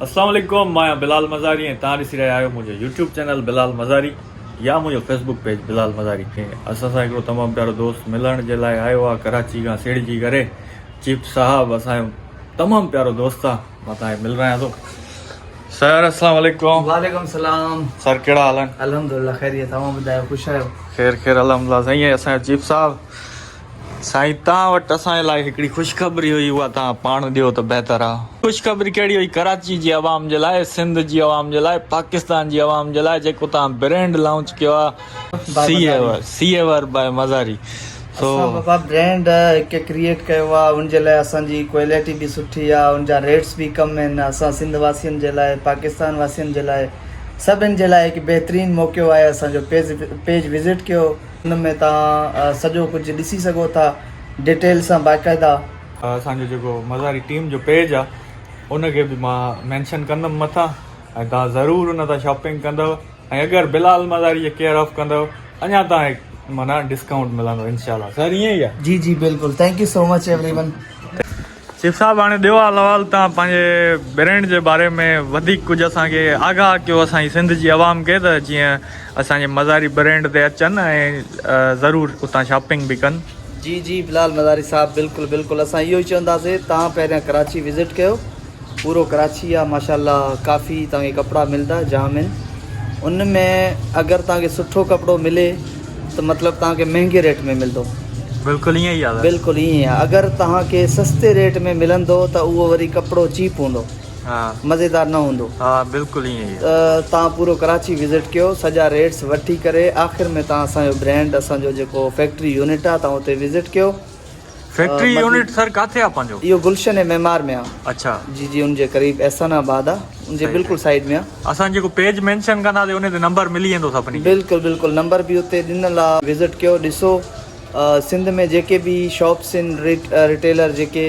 السلام عليڪم مان آهيان بلال مزاري ۽ توهان ڏسي رهيا آهيو منهنجو يوٽيوب چينل بلال مزاري يا منهنجو فيسبوڪ پيج بلال مزاري اسان سان هڪڙو تمام پيارو دوست ملڻ جي لاء آيو آهي ڪراچي کان سيڙجي ڪري چيف صاحب اسان جو تمام پيارو دوست آهي مان توهان کي ملرايان ٿو سر السلام عليڪم وعليڪم السلام سر ڪهڙا حال آهن الحمدلله خيريت اوهان ٻڌايو خوش آهيو خير خير الحمدلله سائين اسان جو چيف صاحب سائين توهان وٽ اسان جي لاء هڪڙي خوشخبري هئي اها توهان پاڻ ڏيو ته بهتر آ. خوشخبري ڪهڙي هئي ڪراچي جي عوام جي لاء سنڌ جي عوام جي لاء پاڪستان جي عوام جي لاء جيڪو توهان برينڊ لانچ ڪيو آ سيور باء مزاري سو اسان بابا برينڊ هڪ ڪريئيٽ ڪيو آ ان جي لاء اسان جي ڪوئليٽي به سٺي آ ان جا ريٽس به ڪم آهن اسان سنڌ واسين جي لاء پاڪستان واسين جي لاء سڀن جي لاء هڪ بهترين موقعو آهي اسان جو پيج وزٽ ڪيو. ان ۾ توهان سڄو ڪجهه ڏسي سگهو ٿا ڊيٽيل سان باقاعده. اسان جو جيڪو مزاري ٽيم جو پيج آ ان کي به مان مينشن ڪندم مٿان ۽ توهان ضرور ان تان شاپنگ ڪندو ۽ اگر بلال مزاري جي ڪيئر آف ڪندو اڃا توهان کي معنيٰ ڊسڪائونٽ ملندو انشاء الله سر ائين ئي آ. جي جي بلڪل thank you so much everyone. Chief صاحب هاڻي ڏيو حال احوال تان پنهنجي برينڊ جي باري ۾ وڌيڪ ڪجهه اسان کي آگاهه ڪيو اسان جي سنڌ جي عوام کي ته جيئن اسان جي مزاري برينڊ تي اچن ۽ ضرور اتان شاپنگ به ڪن. جي جي بلال مزاري صاحب بلڪل بلڪل اسان اهو ئي چونداسي تان پهريان ڪراچي وزٽ ڪيو پورو ڪراچي آ ماشاء الله ڪافي تان کي ڪپڙا ملدا جام ان ان ۾ اگر تان کي سٺو ڪپڙو ملي ته مطلب توهان کي مهنگي ريٽ ۾ ملندو. بلڪل ائين ئي آ. بلڪل ائين ئي آ. اگر توهان کي سستي ريٽ ۾ ملندو ته اهو وري ڪپڙو چيپ هوندو. ها. مزيدار نه هوندو. ها بلڪل ائين ئي آ. توهان پورو ڪراچي وزٽ ڪيو سڄا ريٽس وٺي ڪري آخر ۾ توهان اسان جو برينڊ اسان جو جيڪو فيڪٽري يونٽ آ توهان اتي وزٽ ڪيو. فيڪٽري يونٽ سر ڪاٿي آ پنهنجو. اهو گلشن اي معمار ۾ آ. اڇا. جي جي ان جي قريب احسان آباد آ ان جي بلڪل سائيڊ ۾ آ. اسان جيڪو پيج مينشن ڪنداسي انهي تي نمبر ملي ويندو سڀني کي. بلڪل بلڪل نمبر به اتي ڏنل آ. وزٽ ڪيو ڏسو سنڌ ۾ جيڪي به شاپس ان ريٽ ريٽيلر جيڪي.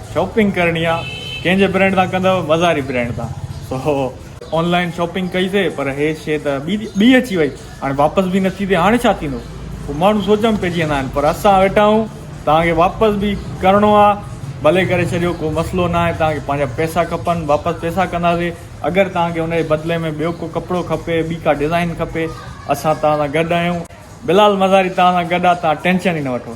شاپنگ ڪرڻي آ ڪنهن جي برينڊ تان ڪندو مزاري برينڊ تان سو آنلائن شاپنگ ڪئي سي پر هي شي ته ٻي ٻي اچي وئي هاڻي واپس به نٿي ٿي هاڻي ڇا ٿيندو پوء ماڻهو سوچ ۾ پئجي ويندا آهن پر اسان ويٺا آهيون توهان کي واپس به ڪرڻو آ ڀلي ڪري ڇڏيو ڪو مسئلو ناهي توهان کي پنهنجا پئسا کپن واپس پئسا ڪنداسي اگر توهان کي ان جي بدلي ۾ ٻيو ڪو ڪپڙو کپي ٻي ڪا ڊزائين کپي اسان توهان سان گڏ آهيون بلال مزاري توهان سان گڏ آ توهان ٽينشن ئي نه وٺو